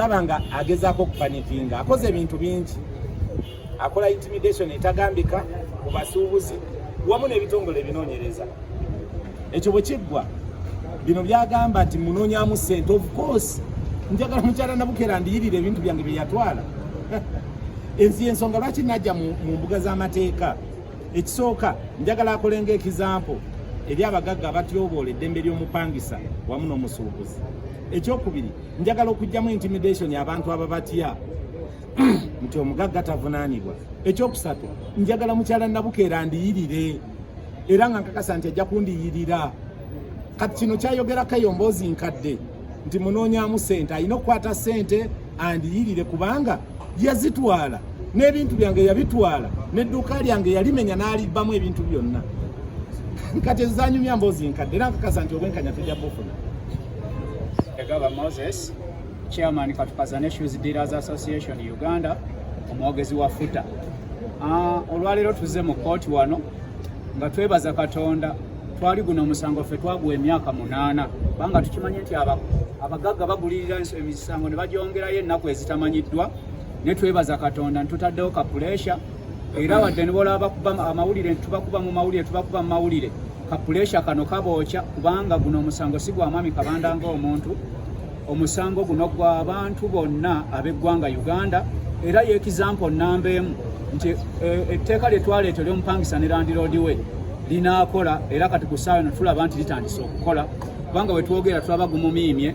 laba nga agezaako okupanikinga akoze ebintu bingi akola intimidation etagambika ku basuubuzi wamu n'ebitongole ebinoonyereza ekyo bwe kiggwa bino byagamba nti munoonyamu sente of course njagala mukyala nabukera ndiyirira ebintu byange bye yatwala ensi ensonga lwaki najja mu mbuga z'amateeka ekisooka njagala akolenga ekizampo eri abagagga abatyoboola eddembe ly'omupangisa wamu n'omusuubuzi ekyokubiri njagala okujjamu intimidation abantu ababatya nti omugagga tavunanibwa ekyokusatu njagala mukyala nabukeera ndiyirire era nga nkakasa nti ajja kundiyirira kati kino kyayogerako eyo mboozi nkadde nti munoonyamu sente alina okukwata sente andiyirire kubanga yazitwala n'ebintu byange yabitwala n'edduuka lyange yalimenya n'alibbamu ebintu byonna kati ezanyumya mboozi nkadde era nkakasa nti obwenkanya tujja bufuna Egaba Moses, chairman Katukazane Shoes Dealers Association Uganda, omwogezi wa FUTA. Ah, olwaleero tuzze mu kkooti wano nga twebaza Katonda twali guno omusango ffe twaguwa emyaka munaana kubanga tukimanye nti abagagga bagulirira emisango ne bagyongerayo ennaku ezitamanyiddwa ne twebaza Katonda ntutaddewo kapuleesha era wadde nibola bakuba amawulire tubakuba mu mawulire tubakuba mu mawulire kapuleesha kano kabookya kubanga guno omusango si gwa mwami kabanda ng'omuntu omusango guno gwa bantu bonna ab'eggwanga uganda era yekizampo nnamba emu nti eh, etteeka lye twaleeta eryomupangisa ne landiroodi we linaakola era kati ku ssaawa eno tulaba nti litandise okukola kubanga wetwogera tulaba gumumiimye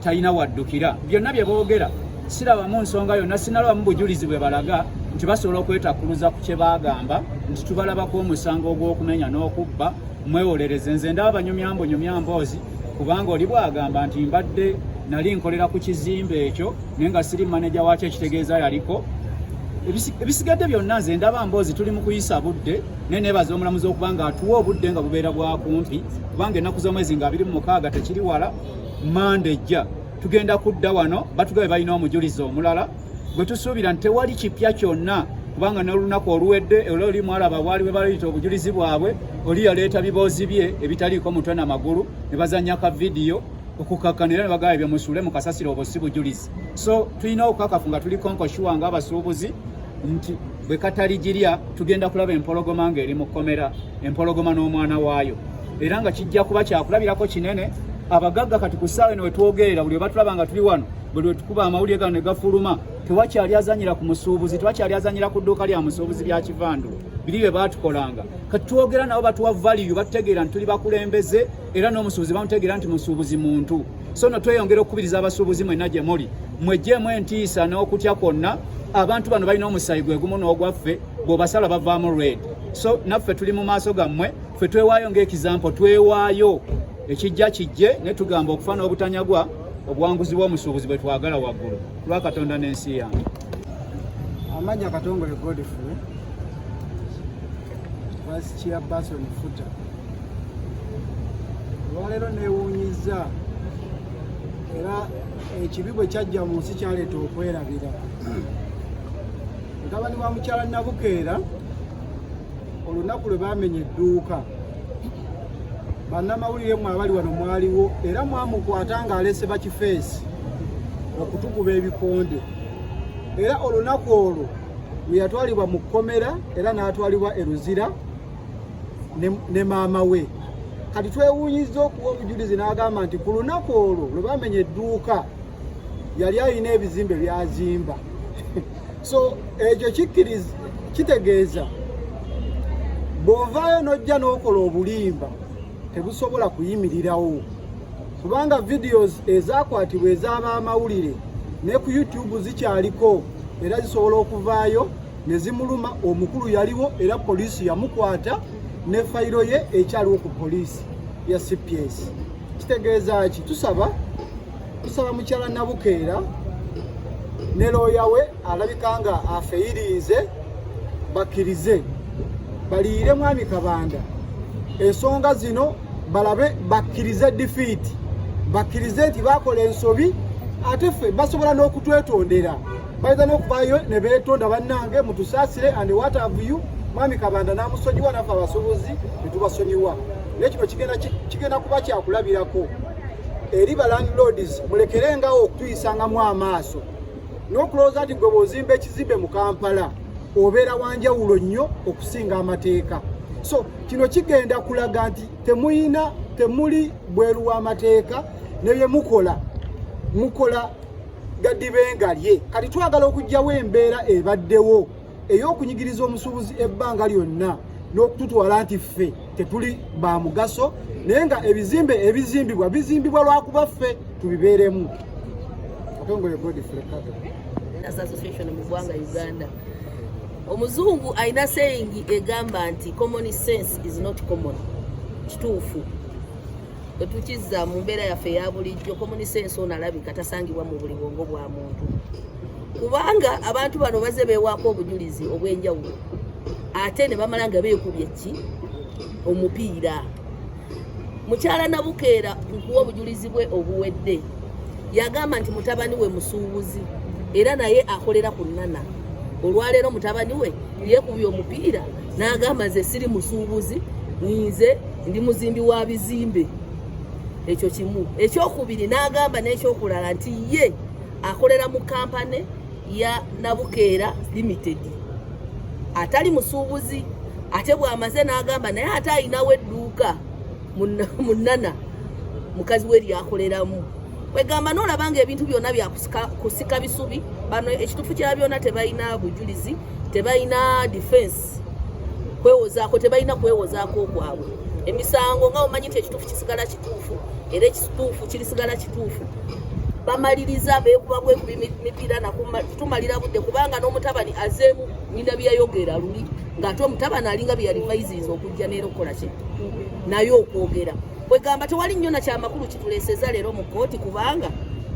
talina waddukira byonna bye boogera sirabamu nsonga yonna sinalabamu bujulizi bwe balaga nti basobola okwetakkuluza ku kye baagamba nti tubalabako omusango ogw'okumenya n'okubba mwewolereze nze ndaba banyumyambo nyumyamboozi kubanga oli bwagamba nti mbadde nali nkolera ku kizimbe ekyo naye nga siri maneja wakyo ekitegeeza yaliko ebisigadde byonna nze ndaba mboozi tuli mu kuyisa budde naye nebaza omulamuzi okuba nga atuwa obudde nga bubeera bwakumpi kubanga ennaku z'omwezi nga abiri mu mukaaga tekiri wala manda ejja tugenda kudda wano batugabe balina omujulizi omulala gwe tusuubira nti tewali kipya kyonna kubanga nolunaku oluwedde era oli mwalaba bwali bwebalayita obujulizi bwabwe oli yaleeta biboozi bye ebitaliiko mutwe na magulu ne bazanya ka vidiyo okukakkana era ne bagaba ebyo musuule mu kasasiro obwo si bujulizi so tulina okukakafu nga tuli konkoshuwa nga abasuubuzi nti bwe katali girya tugenda kulaba empologoma ng'eri mu kkomera empologoma n'omwana waayo era nga kijja kuba kyakulabirako kinene abagagga kati ku ssaawa eno wetwogerera buli webatulaba nga tuli wano buli wetukuba amawulire gano negafuluma tewakyali azanyira ku musuubuzi tewakyali azanyira ku dduuka lya musuubuzi lya kivandu biri bye baatukolanga kati twogera nabo batuwa valiyu batutegeera nti tuli bakulembeze era n'omusuubuzi bamutegeera nti musuubuzi muntu so no tweyongera okukubiriza abasuubuzi mwenna gye muli mwejjeemu entiisa n'okutya kwonna abantu bano balina omusayi gwe gumu n'ogwaffe bw'obasala bavaamu red so naffe tuli mu maaso gammwe ffe twewaayo ng'ekizampo twewaayo ekijja kijje ne tugamba okufa n'obutanyagwa obuwanguzi bw'omusuubuzi bwe twagala waggulu lwa katonda n'ensi yange amanya katongole godfrey vice chairperson futa olwaleero neewuunyiza era ekibi bwe kyajja mu nsi kyaleeta okwerabira mutabani wa mukyala nabukeera olunaku lwe baamenya edduuka bannamawulire mwe abali wano mwaliwo era mwamukwata ng'alese bakifeesi okutukuba ebikonde era olunaku olwo lwe yatwalibwa mu kkomera era n'atwalibwa e luzira ne maama we kati twewuunyiza okuwa obujulizi n'agamba nti ku lunaku olwo lwe bamenya edduuka yali alina ebizimbe byazimba so ekyo kikkiriza kitegeeza bw'ovaayo n'ojja n'okola obulimba tebusobola kuyimirirawo kubanga videos ezakwatibwa ez'abaamawulire ne ku youtube zikyaliko era zisobola okuvaayo ne zimuluma omukulu yaliwo era poliisi yamukwata ne fayiro ye ekyaliwo ku poliisi ya cps kitegeeza ki tusaba Tusaba mukyala Nabukeera ne looya we alabika nga afeyirinze bakkirize baliire mwami Kabanda ensonga zino balabe bakkirize difiiti bakkirize nti bakola ensobi ate ffe basobola n'okutwetondera bayinza n'okuvaayo ne beetonda bannange mutusaasire and what have you mwami kabanda n'amusonyiwa naffe abasubuzi ne tubasonyiwa naye kino kigenda kuba kyakulabirako eri ba landlords mulekerengawo okutuyisangamu amaaso n'okulowooza nti gwe bw'ozimba ekizimbe mu kampala obeera wanjawulo nnyo okusinga amateeka so kino kigenda kulaga nti temuyina temuli bweru w'amateeka ne bye mukola mukola gadibengalye kati twagala okugyawo embeera ebaddewo ey'okunyigiriza omusuubuzi ebbanga lyonna n'okututwala nti ffe tetuli ba mugaso naye nga ebizimbe ebizimbibwa bizimbibwa lwakuba ffe tubibeeremu omuzungu alina sayingi egamba nti common sense is not common kituufu Bwetukizza mu mbeera yaffe eya bulijjo, komunisa ensi ono alabika tasangibwa mu buli bwongo bwa muntu, kubanga abantu bano baze beewaako obujulizi obw'enjawulo ate ne bamala nga beekubye ki omupiira. Mukyala Nabukeera nkuwa obujulizi bwe obuwedde, yagamba nti mutabani we musuubuzi era naye akolera ku nnana. Olwaleero mutabani we yeekubye omupiira n'agamba nze siri musuubuzi ninze ndi muzimbi wa bizimbe ekyo kimu ekyokubiri n'agamba n'ekyokulala nti ye akolera mu kampane ya nabukeera limited atali musuubuzi ate bw'amaze n'agamba naye ate alinawo edduuka munana mukazi we lyakoleramu kwegamba nolaba nga ebintu byona byakusika bisubi bano ekitufu kya byona tebalina bujulizi tebalina defense kwewozaako tebalina kwewozaako okwabwe emisango nga omanyi nti ekitufu kisigala kituufu era ekituufu kirisigala kituufu bamaliriza bekuba bwekubi mipiira nakutumalira budde kubanga n'omutabani azeemu nyina byeyayogera luli ng'ate omutabani alinga byeyalivayiziiza okujja neera okukola kye naye okwogera kwegamba tewali nnyo na kyamakulu kituleeseza leero mu kkooti kubanga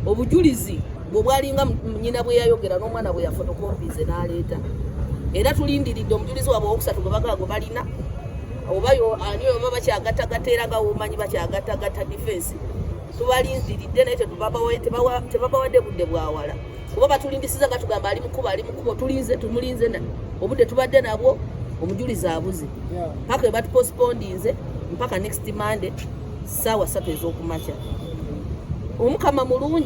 obujulizi bwe bwalinga nyina bwe yayogera n'omwana bwe yafotokompize n'aleeta era tulindiridde omujulizi wabwe owokusatu gwe bagaago balina oba ani oba bakyagattagatta era nga womanyi bakyagattagatta difensi tubalindiridde naye tebabawadde budde bwawala kuba batulimbisiza nga tugamba ali mukubo ali mukubo tulinze tumulinze na obudde tubadde nabwo omujulizi abuze paka ebatu postpondinze mpaka next monday saawa satu ezokumakya omukama mulungi